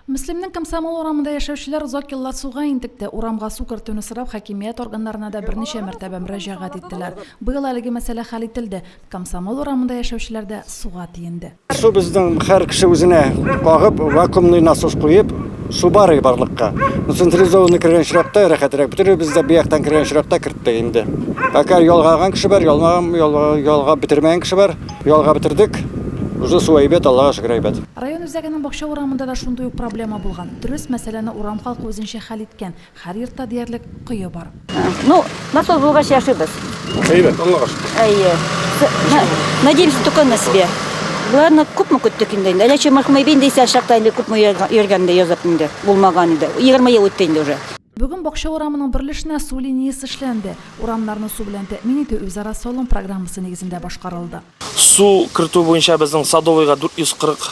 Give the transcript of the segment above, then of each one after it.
Мөслимнең Комсомол урамында яшәүчеләр озак еллар суга интекте. Урамга су кертүне сорап хакимият органнарына да берничә мәртәбә мөрәҗәгать иттеләр. Быел әлеге мәсьәлә хәл ителде. Комсомол урамында яшәүчеләр дә суга тиенде. Су безнең һәр кеше үзенә кагып, вакуумный насос куеп, су барый барлыкка. Ну, централизованный кергән очракта рәхәтрәк. Бөтенебез дә бу яктан кергән очракта керттек инде. Пока ялгаган кеше бар, ялмаган, ялгап бетермәгән кеше бар. Ялгап бетердек. Уже су әйбәт, Аллага шөкер, әйбәт. Район үзәгенең бакча урамында да шундый ук проблема булган. Дөрес, мәсьәләне урам халкы үзенчә хәл иткән. Һәр йортта диярлек кое бар. Ну, насос булгач яшибез. Әйбәт, Аллага шөкер. Әйе. Надеемся только на себя. Боларны күпме көттек инде. Әллә чи махмый бин дисә чакта инде күпме йөргән дә язып инде. Булмаган иде. Егерме ел үтте инде уже. Бүген бакча урамының бер өлешенә су линиясе эшләнде. Урамнарны су белән тәэмин итү үзара салым программасы нигезендә башкарылды. Су кертү буенча безнең Садовыйга 440,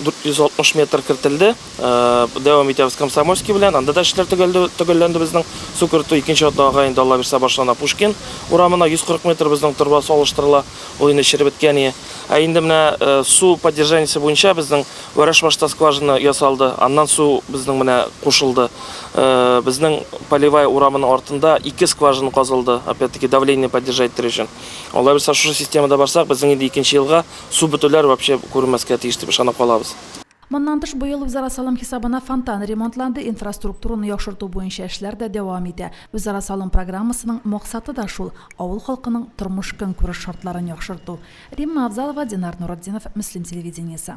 460 метр кертелде. Дәвам итәбез Комсомольский белән. Анда да эшләр төгәлде, төгәлләнде безнең. Су кертү икенче атнага инде Алла бирсә башлана Пушкин урамына 140 метр безнең торба су алыштырыла. Ул инде череп беткәние. Ә инде менә су поддержаниесе буенча безнең Вәрәшбашта скважина ясалды. Аннан су безнең менә кушылды. Безнең Полевая урамының артында ике скважина казылды, опять-таки давление поддержать итер өчен. Алай булса, шушы системада барсак, безнең инде икенче елга су бөтүләр вообще күренмәскә тиеш дип ышанып калабыз. Моннан тыш, быел үзара салым хисабына фонтан ремонтланды, инфраструктураны яхшырту буенча эшләр дә дәвам итә. Үзара салым программасының максаты да шул, авыл халкының тормыш-көнкүреш шартларын яхшырту. Римма Авзалова, Динар Нуретдинов, Мөслим телевидениесе.